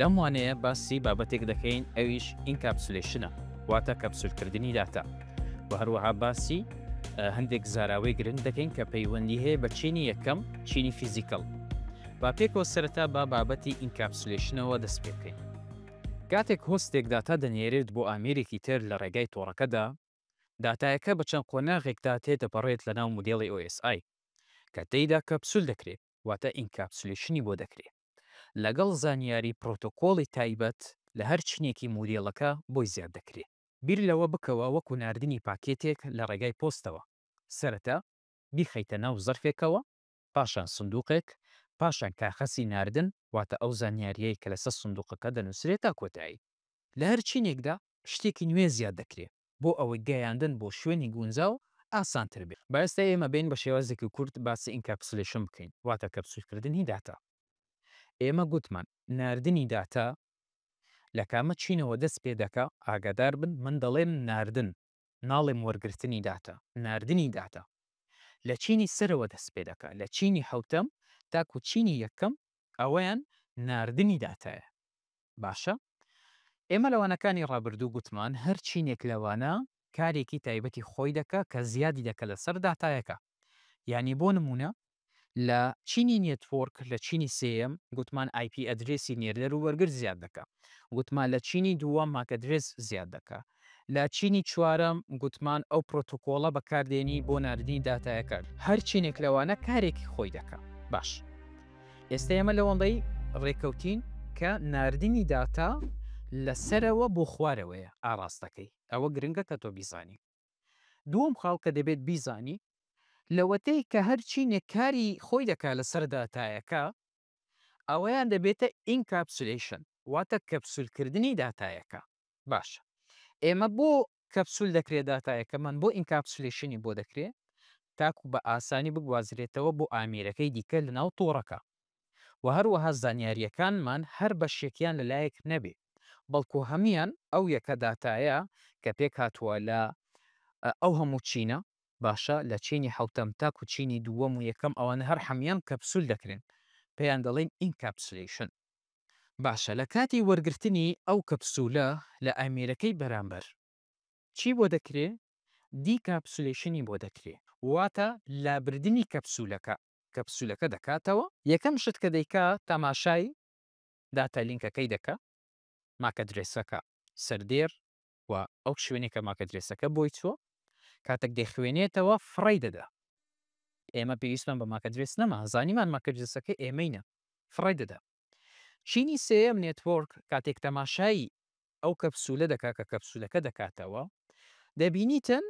لەم وانەیە باسی بابەتێک دەکەین ئەویش ئینکاپسولەیشنە واتە کەپسولکردنی داتا و هەروەها باسی هەندێک زاراوەی گرنگ دەکەین کە پەیوەندی هەیە بە چینی یەکەم چینی فیزیکەڵ با پێکەوە سەرەتا با بابەتی ئینکاپسولەیشنەوە دەست پێ بکەین کاتێک هۆستێک داتا دەنێرێت بۆ ئامێرێکی تر لە ڕێگای تۆڕەکەدا داتایەکە بە چەند قۆناغێکدا تێدەپەڕێت لەناو مودێڵی OSI کە تێیدا کەپسول دەکرێت واتە ئینکاپسولەیشنی بۆ دەکرێ لەگەڵ زانیاری پرۆتۆکۆڵی تایبەت لە هەر چینێکی مودێڵەکە بۆی زیاد دەکرێ. بیر لەوە بکەوە وەکو ناردنی پاکێتێک لە ڕێگای پۆستەوە، سەرەتا بیخەیتە ناو زەرفێکەوە، پاشان سندوقێک، پاشان کاخەسی ناردن واتە ئەو زانیارییەی کە لەسەر سندوقەکە دەنووسرێ تا کۆتایی. لە هەر چینێکدا شتێکی نوێ زیاد دەکرێ بۆ ئەوەی گەیاندن بۆ شوێنی گونجاو ئاسانتر بێت. با ئێستا ئێمە بێین بە شێوازێکی کورت باسی ئینکاپسولەیشن بکەین واتە کەپسولکردنی داتا. ئێمە گوتمان ناردنی داتا لە کامە چینەوە دەست پێ دەکا؟ ئاگادار بن من دەڵێم ناردن ناڵێم وەرگرتنی داتا، ناردنی داتا لە چینی سەرەوە دەست پێ دەکا لە چینی حەوتەم تاکوو چینی یەکەم ئەوەیان ناردنی داتایە. باشە ئێمە لە وانەکانی ڕابردوو گوتمان هەر چینێک لە وانە کارێکی تایبەتی خۆی دەکا کە زیادی دەکا لەسەر داتایەکە. یانی بۆ نموونە لە چینی نێتوۆرک لە چینی سێیەم گوتمان ئای پی ئەدرێسی نێردەر و وەرگر زیاد دەکا. گوتمان لە چینی دووەم ماک ئەدرێس زیاد دەکا. لە چینی چوارەم گوتمان ئەو پرۆتۆکۆڵە بەکاردێنی بۆ ناردنی داتایەکان. هەر چینێک لەوانە کارێکی خۆی دەکا. باش ئێستا ئێمە لەوەندەی رێکەوتین کە ناردنی داتا لە سەرەوە بۆ خوارەوەیە ئاراستەکەی. ئەوە گرنگە کە تۆ بیزانی. دووەم خاڵ کە دەبێت بیزانی لەوەتەی کە هەر چینێک کاری خۆی دەکا لەسەر داتایەکە، ئەوەیان دەبێتە ئینکاپسولەیشن واتە کەپسول کردنی داتایەکە باشە ئێمە بۆ کەپسول دەکرێت داتایەکەمان بۆ ئینکاپسولەیشنی بۆ دەکرێ تاکو بە ئاسانی بگوازرێتەوە بۆ ئامیرەکەی دیکە لەناو تۆڕەکە و هەروەها زانیاریەکانمان هەر بەشێکیان لەلایەک نەبێ بەڵکو هەمویان ئەو یەکە داتایە کە پێکهاتووە لە ئەو هەموو چینە باشە لە چینی حەوتەم تاکو چینی دووەم و یەکەم ئەوانە هەر حەمیان کەپسول دەکرێن پێیان دەڵێن ئینکاپسولەیشن باشە لە کاتی وەرگرتنی ئەو کەپسولە لە ئامێرەکەی بەرامبەر چی بۆ دەکرێ دیکاپسولەیشنی بۆ دەکرێ واتە لابردنی کەپسولەکە کەپسولەکە دەکاتەوە. یەکەم شت کە دەیکا تاماشای داتا لینکەکەی دەکا ماکئەدرێسەکە سەردێر و ئەو شوێنەی کە ماکەدرێسەکە بۆی چووە کاتێک دەیخوێنێتەوە فڕەی دەدا ئێمە پێویستمان بە ماکەدرێس نەما زانیمان ماکەدرێسەکە ئێمەینە فڕی دەدا چینی سێم نێتۆرک کاتێک تەماشایی ئەو کەپسولە دەکا کە کەپسولەکە دەکاتەوە دەبینیتن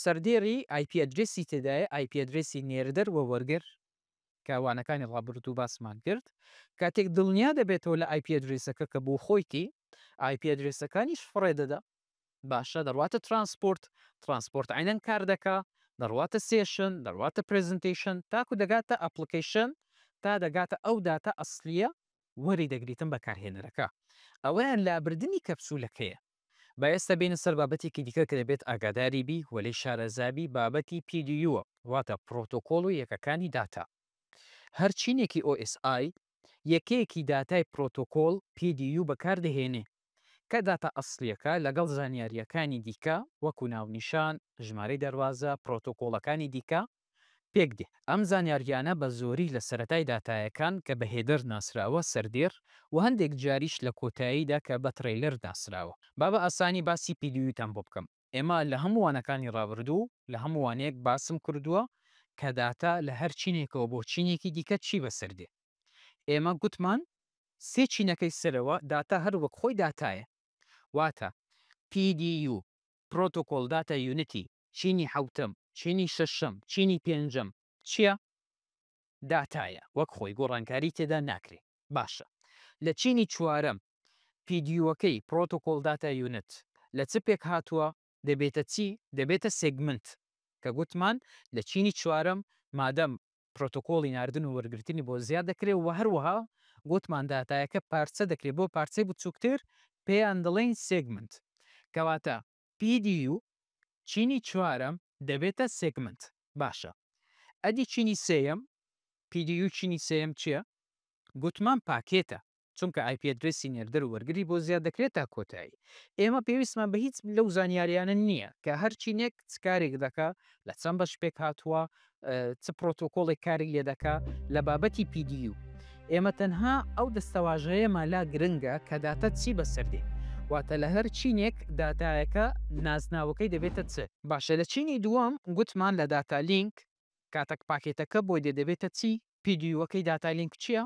سەردێری آیپ ئەدرسی تێدایە آیپ ئەدرسی نێردەر و وەرگر کە وانەکانی ڕابردوو باسمان کرد کاتێک دڵنیا دەبێتەوە لە آیپ ئەدرسەکە کە بۆ خۆیتی ئای پی ئەدرێسەکانیش فڕێ دەدا. باشە دەڕواتە ترانسپۆرت، ترانسپۆرت عەینەن کار دەکا، دەڕواتە سێشن، دەڕواتە پرێزنتەیشن تاکو دەگاتە ئەپڵکەیشن تا دەگاتە ئەو داتا ئەسڵییە وەری دەگریتن بەکارهێنەرەکە. ئەوەیان لابردنی کەپسولەکەیە. با ئێستا بێینە سەر بابەتێکی دیکە کە دەبێت ئاگاداری بی و لێی شارەزا بی بابەتی پی دی یووە واتە پڕۆتۆکۆڵ و یەکەکانی داتا. هەر چینێکی ئۆ ئێس ئای یەکەیەکی داتای پرۆتۆکۆڵ، PDU، بەکاردەهێنێ، کە داتا ئەسڵییەکە لەگەڵ زانیارییەکانی دیکە وەکوو ناونیشان، ژمارەی دەروازە، پرۆتۆکۆڵەکانی دیکە پێک دێ. ئەم زانیارییانە بە زۆری لە سەرەتای داتایەکان کە بە هێدەر ناسراوە سەردێر و هەندێک جاریش لە کۆتاییدا کە بە ترەیلەر ناسراوە. با بە ئاسانی باسی PDU تان بۆ بکەم. ئێمە لە هەموو وانەکانی ڕابردوو لە هەموو وانەیەک باسم کردووە کە داتا لە هەر چینێکەوە بۆ چینێکی دیکە چی بەسەر دێ. ئێمە گوتمان سێ چینەکەی سەرەوە داتا هەر وەک خۆی داتایە. واتە PDU، Protocol Data Unity، چینی حەوتەم، چینی شەشەم، چینی پێنجەم. چییە؟ داتایە وەک خۆی گۆڕانکاری تێدا ناکرێ باشە لە چینی چوارەم پیدیوەکەی پرۆتۆکۆڵ داتا یونت لە چ پێک هاتوە دەبێتە چی دەبێتە سێگمنت کە گوتمان لە چینی چوارەم مادەم پرۆتۆکۆڵی ناردن و وەرگرتنی بۆ زیاد دەکرێ وە هەروەها گوتمان داتایەکە پارچە دەکرێ بۆ پارچەی بچوکتر پێیان دەڵێین سێگمنت کەواتە PDU چینی چوارەم دەبێتە سێگمنت باشە ئەدی چینی سێیەم؟ PDU چینی سێیەم چیە؟ گوتمان پاکێتە چونکە ئایپی ئەدرێسی نێردەر و وەرگری بۆ زیاد دەکرێت تا کۆتایی ئێمە پێویستمان بە هیچ لەو زانیاریانە نیە کە هەر چینێک چ کارێک دەکا لە چەند بەش پێکهاتووە چ پرۆتۆکۆڵێک کاری لێدەکا لە بابەتی PDU. ئێمە تەنها ئەو دەستەواژەیەمان لا گرنگە کە داتا چی بەسەر دێ. واتە لە هەر چینێک داتایەکە نازناوەکەی دەبێتە چ. باشە لە چینی دووەم گوتمان لە داتا لینک کاتەک پاکێتەکە بۆی دێ دەبێتە چی؟ PDU ەکەی داتا لینک چییە؟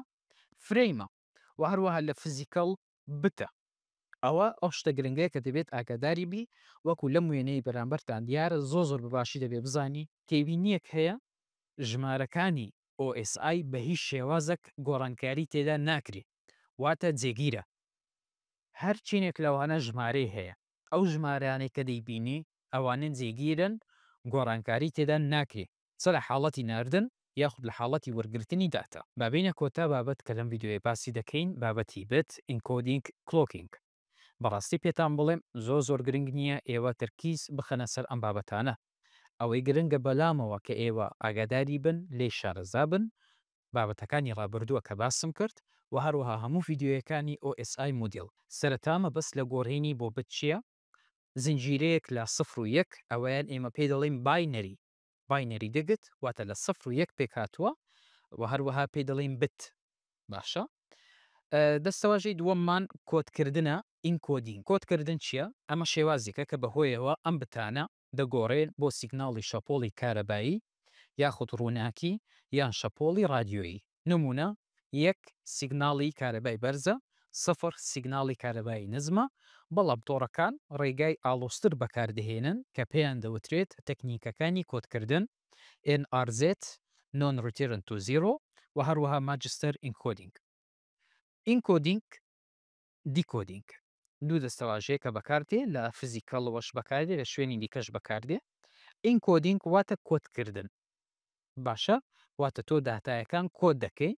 فرەیمە. و هەروەها لە فزیکەڵ بتە ئەوە ئەو شتە گرنگەیە کە دەبێت ئاگاداری بی وەکو لەم وێنەی بەرامبەرتان دیارە زۆر زۆر بەباشی دەبێت بزانی تێبینیەک هەیە ژمارەکانی OSI بە هیچ شێوازەک گۆڕانکاری تێدا ناکری واتە جێگیرە هەر چینێک لەوانە ژمارەی هەیە ئەو ژمارانەی کە دەیبینی ئەوانە جێگیرن گۆڕانکاری تێدا ناکری. چ لە حاڵەتی ناردن یاخود لە حاڵەتی وەرگرتنی داتا. با بێینە کۆتا بابەت کە لەم ڤیدیۆیە باسی دەکەین بابەتی بت ئینکۆدینگ کلۆکینگ بەڕاستی پێتان بڵێم زۆر زۆر گرنگ نییە ئێوە تەرکیز بخەنە سەر ئەم بابەتانە ئەوەی گرنگە بەلامەوە کە ئێوە ئاگاداری بن لێی شارەزا بن بابەتەکانی ڕابردووە کە باسم کرد وە هەروەها هەموو ڤیدیۆیەکانی OSI مودیڵ. سەرەتا مەبەست لە گۆرینی بۆ بت چییە؟ زنجیرەیەک لە سفر و یەک ئەوەیان ئێمە پێی دەڵێین باینەری باینەری دگت واتە لە سفر و یەک پێکهاتووە و هەروەها پێی دەڵێین بت باشە دەستەواژەی دووەممان کۆدکردنە ئینکۆدین کۆدکردن چییە ئەمە شێوازێکە کە بەهۆیەوە ئەم بتانە دەگۆڕێن بۆ سیگناڵی شەپۆڵی کارەبایی یاخود ڕووناکی یان شەپۆڵی ڕادیۆیی نمونە یەک سیگناڵی کارەبای بەرزە، سفر سیگناڵی کارەبایی نزمە، بەڵام تۆڕەکان ڕێگای ئاڵۆزتر بەکاردەهێنن کە پێیان دەوترێت تەکنیکەکانی کۆدکردن، NRZ، Non Return to Zero، و هەروەها Magister Encoding، ئینکۆدینگ. دیکۆدینگ دوو دەستەواژەیە کە بەکاردێ لە فزیکەڵەوەش بەکاردێ لە شوێنی دیکەش بەکاردێ ئینکۆدینگ واتە کۆدکردن باشە واتە تۆ داتایەکان کۆد دەکەی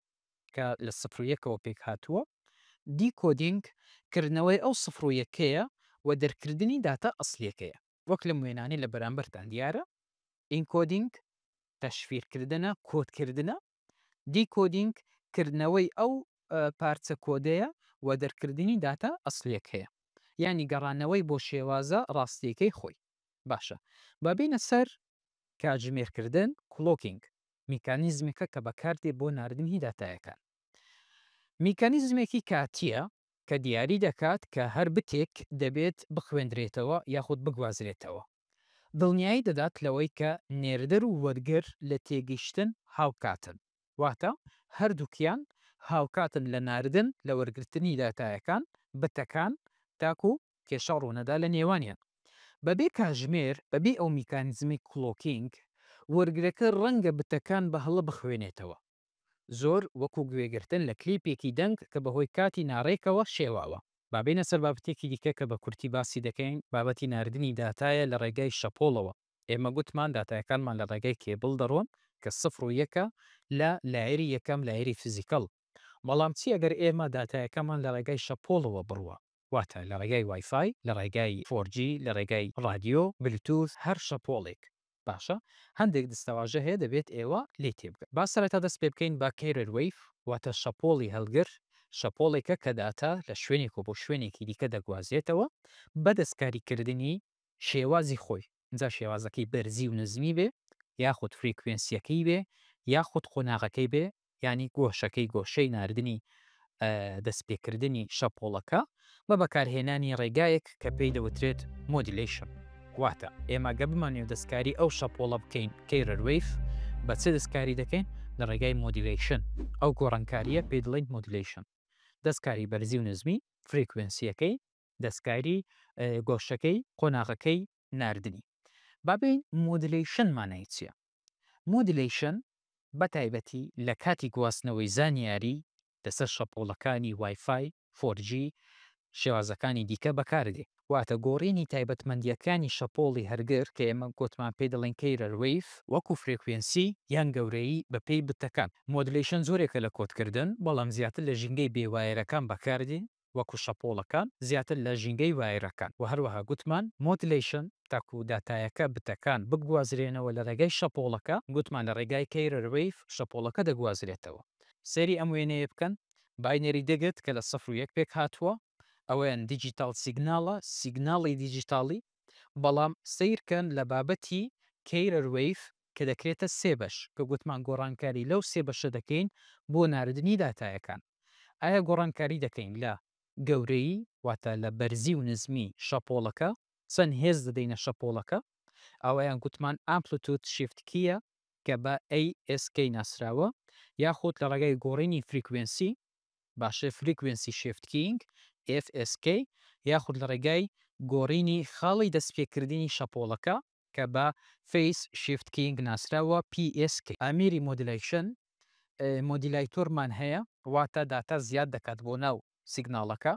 کە لە سفر و یەکەوە پێک هاتووە دیکۆدینگ کردنەوەی ئەو سفر و یەکەیە و دەرکردنی داتا ئەسلیەکەیە وەک لەم وێنانەی لە بەرامبەرتان دیارە ئینکۆدینگ تەشفیرکردنە کۆدکردنە دیکۆدینگ کردنەوەی ئەو پارچە کۆدەیە و دەرکردنی داتا ئەسڵیەک هەیە یانی گەڕانەوەی بۆ شێوازە ڕاستیەکەی خۆی باشە با بێینە سەر کاتژمێر کردن کڵۆکینگ میکانیزمێکە کە بەکاردێ بۆ ناردنی داتایەکان میکانیزمێکی کاتیە کە دیاری دەکات کە هەر بتێک دەبێت بخوێندرێتەوە یاخود بگوازرێتەوە دڵنیایی دەدات لەوەی کە نێردەر و وەرگر لە تێگەیشتن هاوکاتن، واتە هەردووکیان هاوکاتن لە ناردن لە وەرگرتنی داتایەکان، بتەکان، تاکو کێشە ڕوونەدا لە نێوانیان. بەبێ کاژمێر، بەبێ ئەو میکانیزمەی کلۆکینگ، وەرگرەکە ڕەنگە بتەکان بە هەڵە بخوێنێتەوە. زۆر وەکو گوێگرتن لە کلیپێکی دەنگ کە بەهۆی کاتی ناڕێکەوە شێواوە. با بێینە سەر بابەتێکی دیکە کە بە کورتی باسی دەکەین، بابەتی ناردنی داتایە لە ڕێگای شەپۆڵەوە. ئێمە گوتمان داتایەکانمان لە ڕێگای کێبڵ دەڕۆن کە سفر و یەکە لە لایەری یەکەم، لایەری فیزیکەڵ. بەڵام چی ئەگەر ئێمە داتایەکەمان لە ڕێگای شەپۆڵەوە بڕوا؟ واتە لە ڕێگای وای فای، لە ڕێگای فۆر جی، لە ڕێگای ڕادیۆ، بلوتوث، هەر شەپۆڵێک. باشە هەندێک دستەواژە هەیە دەبێت ئێوە لێی تێبگەن. با سەرەتا دەست پێ بکەین بە Carrier Wave واتە شەپۆڵی هەڵگر، شەپۆڵێکە کە داتا لە شوێنێکەوە بۆ شوێنێکی دیکە دەگوازێتەوە بە دەستکاریکردنی شێوازی خۆی، جا شێوازەکەی بەرزی و نزمی بێ، یاخود فریکوێنسییەکەی بێ، یاخود قۆناغەکەی بێ، یانی گۆشەکەی گۆشەی ناردنی دەستپێکردنی شەپۆڵەکە، بە بەکارهێنانی ڕێگایەک کە پێی دەوترێت مۆدیلەیشن. واتە ئێمە گەر بمانەوێت دەستکاری ئەو شەپۆڵە بکەین کەیرەر وەیڤ، بە چ دەستکاری دەکەین؟ لە ڕێگای مۆدیلەیشن، ئەو گۆڕانکارییە پێی دەڵێین مۆدیلەیشن، دەستکاری بەرزی و نزمی، فریکوێنسییەکەی، دەستکاری گۆشەکەی قۆناغەکەی ناردنی. با بێین مۆدلەیشن مانای چیە؟ مۆدلەیشن بە تایبەتی لە کاتی گواستنەوەی زانیاری لەسەر شەپۆڵەکانی وای فای، فۆر جی، شێوازەکانی دیکە بەکاردێ. واتە گۆڕینی تایبەتمەندیەکانی شەپۆڵی هەرگر کە ئێمە گۆتمان پێی دەڵێن کەیرەر وەیڤ، وەکو فرێکوێنسی یان گەورەیی بەپێی بتەکان. مۆدلەیشن جۆرێکە لە کۆدکردن بەڵام زیاتر لە ژینگەی بێ وایەرەکان بەکاردێ وەکو شەپۆڵەکان زیاتر لە ژینگەی وایرەکان وە هەروەها گوتمان مۆدلەیشن تاکو داتایەکە بتەکان بگوازرێنەوە لە ڕێگای شەپۆڵەکە گوتمان لە ڕێگای کەیرەر وەیڤ شەپۆڵەکە دەگوازرێتەوە سەیری ئەم وێنەیە بکەن باینەری دێگت کە لە سەفر و یەک پێک هاتووە ئەوەیان دیجیتاڵ سیگناڵە سیگناڵی دیجیتاڵی بەڵام سەیرکەن لە بابەتی کەیرەر وەیڤ کە دەکرێتە سێ بەش کە گوتمان گۆڕانکاری لەو سێ بەشە دەکەین بۆ ناردنی داتایەکان. ئایا گۆڕانکاری دەکەین لە گەورەیی واتە لە بەرزی و نزمی شەپۆڵەکە، چەند هێز دەدەینە شەپۆڵەکە، ئەوەیان گوتمان ئامپلتود شیفت کیە کە بە ASK ناسراوە، یاخود لە ڕێگای گۆڕینی فریکوێنسی باشە فریکوێنسی شیفت کیینگ FSK، یاخود لە ڕێگای گۆڕینی خاڵی دەستپێکردنی شەپۆڵەکە، کە بە فەیس شیفت کیینگ ناسراوە، PSK. ئامێری مۆدیلەیشن، مۆدیلایتۆرمان هەیە، واتە داتا زیاد دەکات بۆ ناو سیگناڵەکە،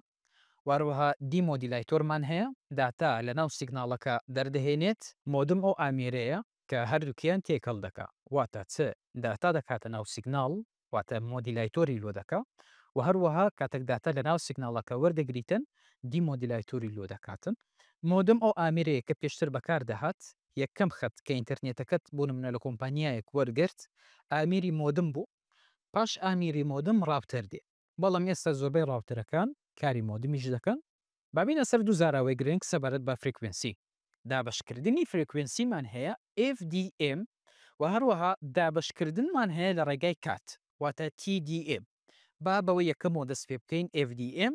واروەها دیمۆدیلایتۆرمان هەیە، داتا لە ناو سیگناڵەکە دەردەهێنێت. مۆدم ئەو ئامێرەیە کە هەردووکیان تێکەڵ دەکا، واتە چ داتا دەکاتە ناو سیگناڵ، واتە مۆدیلایتۆری لۆ دەکا و هەروەها کاتەک داتا لە ناو سیگناڵەکە وەردەگریتن دی مۆدیلایتۆری لۆ دەکاتن. مۆدم ئەو ئامێرەیە کە پێشتر بەکار دەهات، یەکەم خەت کە ئینتەرنێتەکەت بۆ نمونە لە کۆمپانیایەک وەرگرت ئامێری مۆدم بوو، پاش ئامێری مۆدم ڕاوتەر دێ، بەڵام ئێستا زۆربەی ڕاوتەرەکان کاری مۆدمیش دەکەن با بێینە سەر دوو زاراوەی گرنگ سەبارەت بە فرێکوێنسی. دابەشکردنی فرێکوێنسیمان هەیە، FDM، و هەروەها دابەشکردنمان هەیە لە ڕێگای کات، واتە TDM. با بەوەی یەکەمەوە دەست پێ بکەین، FDM،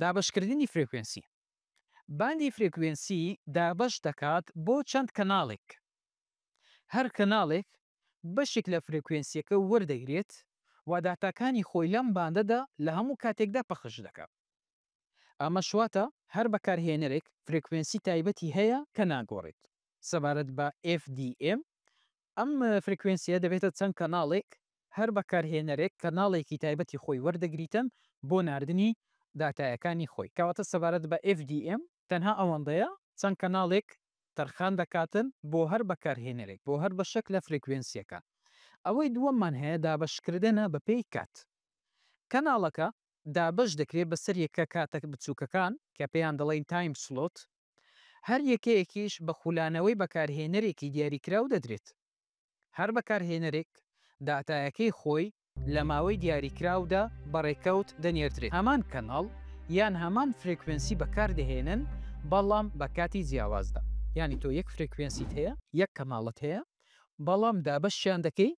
دابەشکردنی فرێکوێنسی. باندی فرێکوێنسی دابەش دەکات بۆ چەند کەناڵێک. هەر کەناڵێک بەشێک لە فرێکوێنسییەکە وەردەگرێت و داتاکانی خۆی لەم باندەدا لە هەموو کاتێکدا پەخش دەکات. ئەمەش واتە هەر بەکارهێنەرێک فرێکوێنسی تایبەتی هەیە کە ناگۆڕێت. سەبارەت بە FDM، ئەم فرێکوێنسییە دەبێتە چەند کەناڵێک، هەر بەکارهێنەرێک کەناڵێکی تایبەتی خۆی وەردەگریتن بۆ ناردنی داتایەکانی خۆی. کەواتە سەبارەت بە FDM تەنها ئەوەندەیە چەند کەناڵێک تەرخان دەکاتن بۆ هەر بەکارهێنەرێک بۆ هەر بەشێک لە فرێکوێنسییەکان. ئەوەی دووەممان هەیە دابەشکردنە بەپێی کات. کەناڵەکە دابەش دەکرێت بەسەر یەکە کاتە بچووکەکان کە پێیان دەڵێین تایم سلۆت، هەر یەکەیەکیش بە خولانەوەی بەکارهێنەرێکی دیاریکراو دەدرێت. هەر بەکارهێنەرێک داتایەکەی خۆی لە ماوەی دیاریکراودا بە ڕێکەوت دەنێردرێت. هەمان کەناڵ یان هەمان فرێکوێنسی بەکاردەهێنن بەڵام بە کاتی جیاوازدا. یانی تۆ یەک فرێکوێنسیت هەیە، یەک کەناڵت هەیە بەڵام دابەشیان دەکەی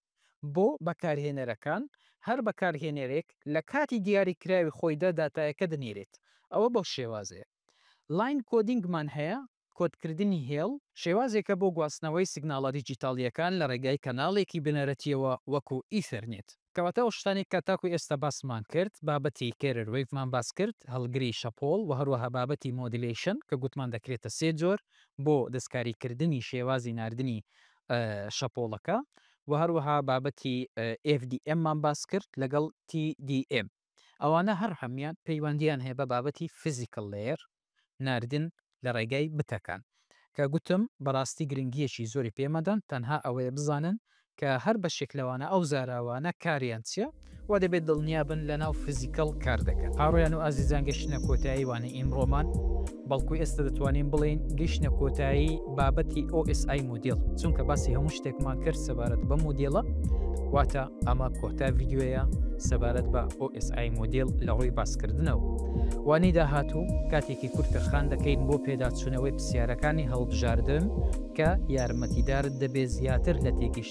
بۆ بەکارهێنەرەکان، هەر بەکارهێنەرێک لە کاتی دیاریکراوی خۆیدا داتایەکە دەنێرێت، ئەوە بەو شێوازەیە. لاین کۆدینگمان هەیە، کۆدکردنی هێڵ، شێوازێکە بۆ گواستنەوەی سیگناڵە دیجیتاڵییەکان لە ڕێگای کەناڵێکی بنەرەتییەوە وەکو ئیثەرنێت. کەواتە ئەو شتانەی کە تاکو ئێستا باسمان کرد، بابەتی کێرر وەیڤمان باس کرد، هەڵگری شەپۆڵ و هەروەها بابەتی مۆدیلەیشن کە گوتمان دەکرێتە سێ جۆر بۆ دەستکاریکردنی شێوازی ناردنی شەپۆڵەکە و هەروەها بابەتی ئێف دی ئێممان باس کرد لەگەڵ تی دی ئێم ئەوانە هەر هەموویان پەیوەندیان هەیە بە بابەتی فیزیکەڵ لەیەر ناردن لە ڕێگای بتەکان کە گوتم بەڕاستی گرنگیەکی زۆری پێمەدەن تەنها ئەوەیە بزانن کە هەر بەشێک لەوانە ئەو زاراوانە کاریان چیە وا دەبێت دڵنیا بن لە ناو فزیکەڵ کار دەکەن. ئاڕۆیان و ئازیزان گەشتنە کۆتایی وانەی ئیمڕۆمان، بەڵکو ئێستە دەتوانین بڵێین گەشتنە کۆتایی بابەتی OSI مۆدێڵ، چونکە باسی هەموو شتێکمان کرد سەبارەت بەم مۆدێڵە، واتە ئەمە کۆتا ڤیدیۆیە سەبارەت بە OSI مۆدێڵ لە ڕووی باسکردنەوە. وانەی داهاتوو کاتێکی کورت تەرخان دەکەین بۆ پێداچوونەوەی پرسیارەکانی هەڵبژاردن کە یارمەتیدارت دەبێت زیاتر لە تێگەیشتن